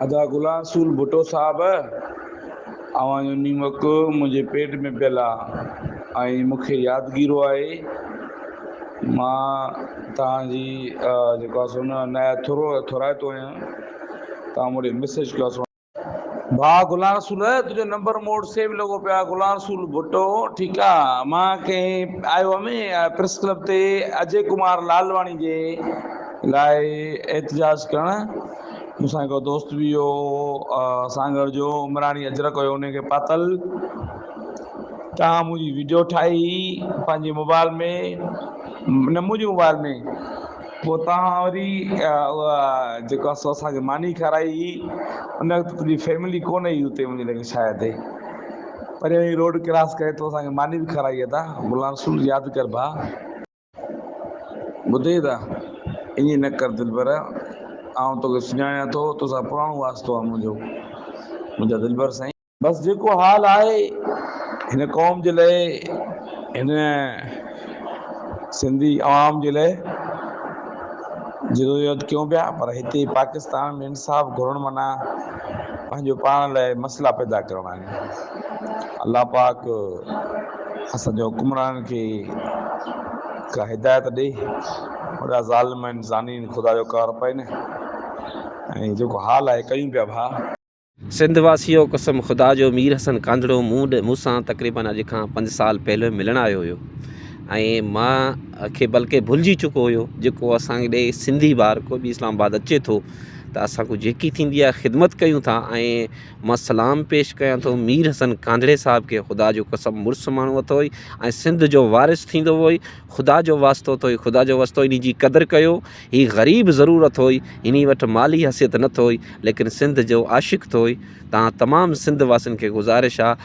ادا غلام رسول ڀٽو صاحب اوهان جو نيمڪ منهنجي پيٽ ۾ پيل آ ۽ مون کي يادگيرو آهي مان توهان جي جيڪو آ سو نه نهايت ٿورو ٿورائتو آهيان توهان مون ڏي مسج ڪيو سو ڀاء غلام رسول تنهنجو نمبر مون وٽ سيو لڳو پيو آ غلام رسول ڀٽو ٺيڪ آ مان ڪنهن آء او ۾ پريس ڪلب تي اجي ڪمار لالواڻي جي لاء احتجاج ڪرڻ مون سان هڪڙو دوست به هو سانگهڙ جو عمراڻي اجرڪ هيو ان کي پاتل تان منهنجي ويڊيو ٺاهي پنهنجي موبائل ۾ نه منهنجي موبائل ۾ پوء تان وري اها جيڪو اسو اسان کي ماني کارائي هئي ان وقت تنهنجي فيملي ڪونه هئي اتي منهنجي لڳي شايد پريان هي روڊ ڪراس ڪري تو اسان کي ماني به کارائي ادا غلام رسول ياد ڪر ڀا. ٻڌئي ته، ائين نه ڪر دلبر، آئون توکي سڃاڻيان ٿو، توسان پراڻو واسطو آ منهنجو، منهنجا دلبر سائين! بس جيڪو حال آهي، هن قوم جي لئه، هن سنڌي عوام جي لئه جدوجهد ڪيون پيا، پر هتي پاڪستان ۾ انصاف گهرڻ معنيٰ پنهنجو پاڻ لئه مسئلا پيدا ڪرڻ آهن. الله پاڪ. اسان جي حڪمرانن کي ڪا هدايت ڏي، وڏا ظالم آهن، زانين، خدا جو قهر پئين ۽ جيڪو حال آهي ڪيون پيا ڀاء. سنڌ واسيو قسم خدا جو مير حسن ڪانڌڙو مون ڏي مون سان تقريبن اڄ کان پنج سال پهلوين ملڻ آيو هيو ۽ مان کي بلڪه ڀلجي چڪو هيو جيڪو اسان ڏي سنڌي ٻار ڪو به اسلام آباد اچي ٿو ته اسان کي جيڪي ٿيندي آهي خدمت ڪيون ٿا ۽ مان سلام پيش ڪيان ٿو مير حسن ڪانجڙي صاحب کي خدا جو قسم مڙس ماڻهو اٿوئي ۽ سنڌ جو وارث ٿيندو هوئي خدا جو واسطو اٿوئي خدا جو واسطو اني جي قدر ڪيو هي غريب ضرور اٿوئي اني وٽ مالي حثيت نه اٿوئي ليڪن سنڌ جو عاشق اٿوئي تان تمام سنڌ واسين کي گذارش آ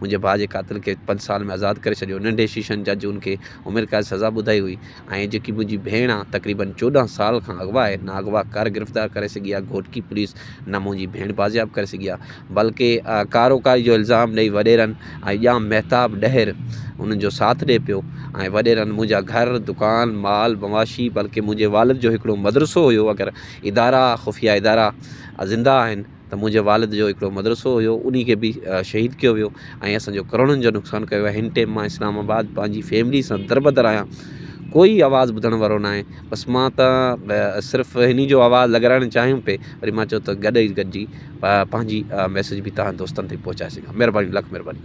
منهنجي ڀاء جي قاتل کي پنج سال ۾ آزاد ڪري ڇڏيو ننڍي شيشن جج ان کي عمر قيد سزا ٻڌائي هئي ۽ جيڪي منهنجي ڀيڻ آ تقريبن چوڏهن سال کان اغوا آهي نه اغوا ڪار گرفتار ڪري سگهي آ گهوٽڪي پوليس نه منهنجي ڀيڻ بازياب ڪري سگهي آ بلڪه ڪاروڪاري جو الزام ڏئي وڏيرن ۽ ڄام مهتاب ڏهر انهن جو ساٿ ڏئي پيو ۽ وڏيرن منهنجا گهر دڪان مال مواشي بلڪه منهنجي والد جو هڪڙو مدرسو هيو اگر ادارا خفيه ادارا زنده آهن ته منهنجي والد جو هڪڙو مدرسو هيو انهي کي به شهيد ڪيو ويو ۽ اسانجو ڪروڙن جو نقصان ڪيو ويو هن ٽيم مان اسلام آباد پنهنجي فيملي سان در بدر آهيان ڪوئي آواز ٻڌڻ وارو ناهي بس مان ته صرف انهي جو آواز لڳرائڻ چاهيم پي وري مان چيو ته گڏ ئي گڏجي پنهنجي ميسج به تنهنجي دوستن تائين پهچائي سگهان مهرباني لک مهرباني